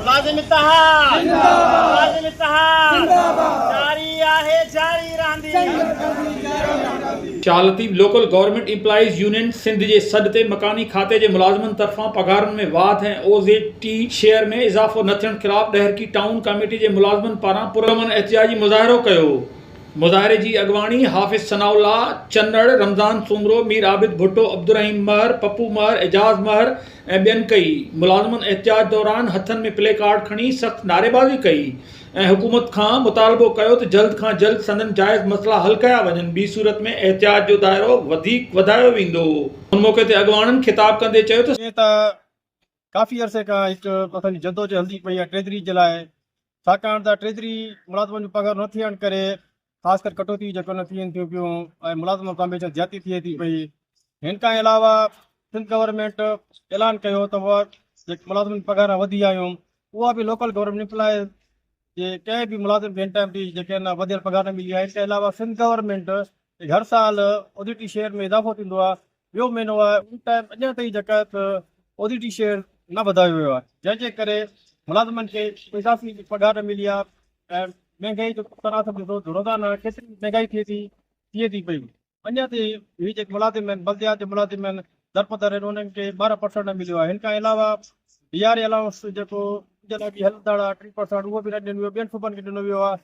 ملازم اتحاد زنده باد ملازم اتحاد زنده باد جاري آهي جاري رهندي جنگ ٿيندي جاري رهندي. شالتيب local government employees union Sindh جي سڏ تي مڪاني کاتي جي ملازمن طرفان پگهارن ۾ واڌ ۽ او زيڊ ٽي شيئر ۾ اضافو نه ٿيڻ خلاف ڏهرڪي ٽائون ڪاميٽي جي ملازمن پاران پرامن احتجاجي مظاهرو ڪيو مظاهري جي اڳواڻي حافظ ثناء الله چنڙ رمضان سومرو مير عابد ڀٽو عبدالرحيم مهر پپو مهر اعجاز مهر ۽ ٻين ڪئي، ملازمن احتجاج دوران هٿن ۾ پلي ڪارڊ کڻي سخت نعريبازي ڪئي ۽ حڪومت کان مطالبو ڪيو ته جلد کان جلد سندن جائز مسئلا حل ڪيا وڃن ٻي صورت ۾ احتجاج جو دائرو وڌيڪ وڌايو ويندو ان موقعي تي اڳواڻن خطاب ڪندي چيو ته جيئن ته ڪافي عرصي کان هڪ اسان جي جدوجهد هلندي پئي آهي ٽريزري جي لاء ساڪاڻ ته ٽريزري ملازمن جون پگهارون نه ٿيڻ ڪري خاص ڪري ڪٽوتي جيڪو نه ٿين ٿيون پيون ۽ ملازم مقام به زيادتي ٿئي ٿي پئي هن کان علاوه سنڌ گورنمينٽ اعلان ڪيو ته اها جيڪي ملازمن پگهارا وڌي آيون اها به لوڪل گورنمينٽ امپلائيز جي ڪنهن به ملازم کي هن ٽائم تي جيڪي آهن وڌيڪ پگهار نه ملي آهي ان کان علاوه سنڌ گورنمينٽ هر سال اوديٽي شيئر ۾ اضافو ٿيندو آهي ٻيو معنو آهي ان ٽائيم اڃا تائين جيڪا آهي ته اوڊيٽي شيئر نه وڌايو ويو آهي جنهن جي ڪري ملازمن کي اضافي پگهار نه ملي آهي ۽ مهنگائي جو تناسب ڏسو ته روزانه ڪيتري مهنگائي ٿئي ٿي ٿئي ٿي پئي اڃا تائين هي جيڪي ملازم آهن بلديات جا ملازم آهن درپدر آهن انهن کي ٻارهن پرسنٽ نه مليو آهي هن کان علاوه ڊي آر اي الائونس جيڪو ان جي لاء به هلندڙ آهي ٽي پرسنٽ اهو به نه ڏنو ويو ٻين صوبن کي ڏنو ويو آهي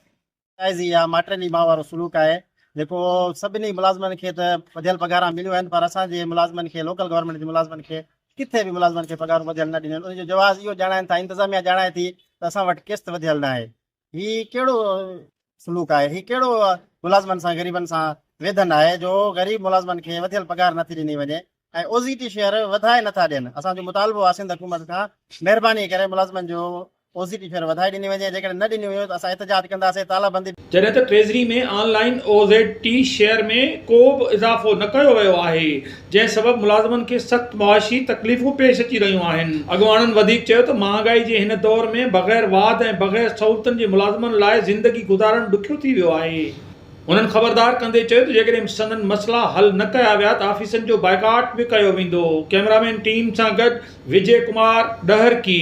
جائزي يا ماٽريني ماء وارو سلوڪ آهي جيڪو سڀني ملازمن کي ته وڌيل پگهاران مليون آهن پر اسان جي ملازمن کي لوڪل گورنمينٽ جي ملازمن کي ڪٿي به ملازمن کي پگهارون وڌيل نه ڏنيون آهن ان جو جواز اهو ڄاڻائين ٿا انتظاميا ڄاڻائي ٿي ته اسان وٽ قسط وڌيل ناهي هي ڪهڙو سلوڪ آهي هي ڪهڙو ملازمن سان غريبن سان ويڌن آهي جو غريب ملازمن کي وڌيل پگهار نٿي ڏني وڃي ۽ او زي ٽي فيئر وڌائي نٿا ڏين، اسان جو مطالبو آهي سنڌ حڪومت کان مهرباني ڪري ملازمن جو او زي ٽي فيئر وڌائي ڏني وڃي جيڪڏهن نه ڏني ويو ته اسان احتجاج ڪنداسين تالابندي جڏهن ته treasury ۾ online O Z T share ۾ ڪو به اضافو نه ڪيو ويو آهي جنهن سبب ملازمن کي سخت معاشي تڪليفون پيش اچي رهيون آهن. اڳواڻن وڌيڪ چيو ته مهانگائي جي هن دور ۾ بغير واڌ ۽ بغير سهولتن جي ملازمن لاء زندگي گذارڻ ڏکيو ٿي ويو آهي. هنن خبردار ڪندي چيو ته جيڪڏهن سندن مسئلا حل نه ڪيا ويا ته آفيسن جو بائيڪاٽ به ڪيو ويندو ڪئميرامين ٽيم سان گڏ وجي ڪمار ڏهرڪي.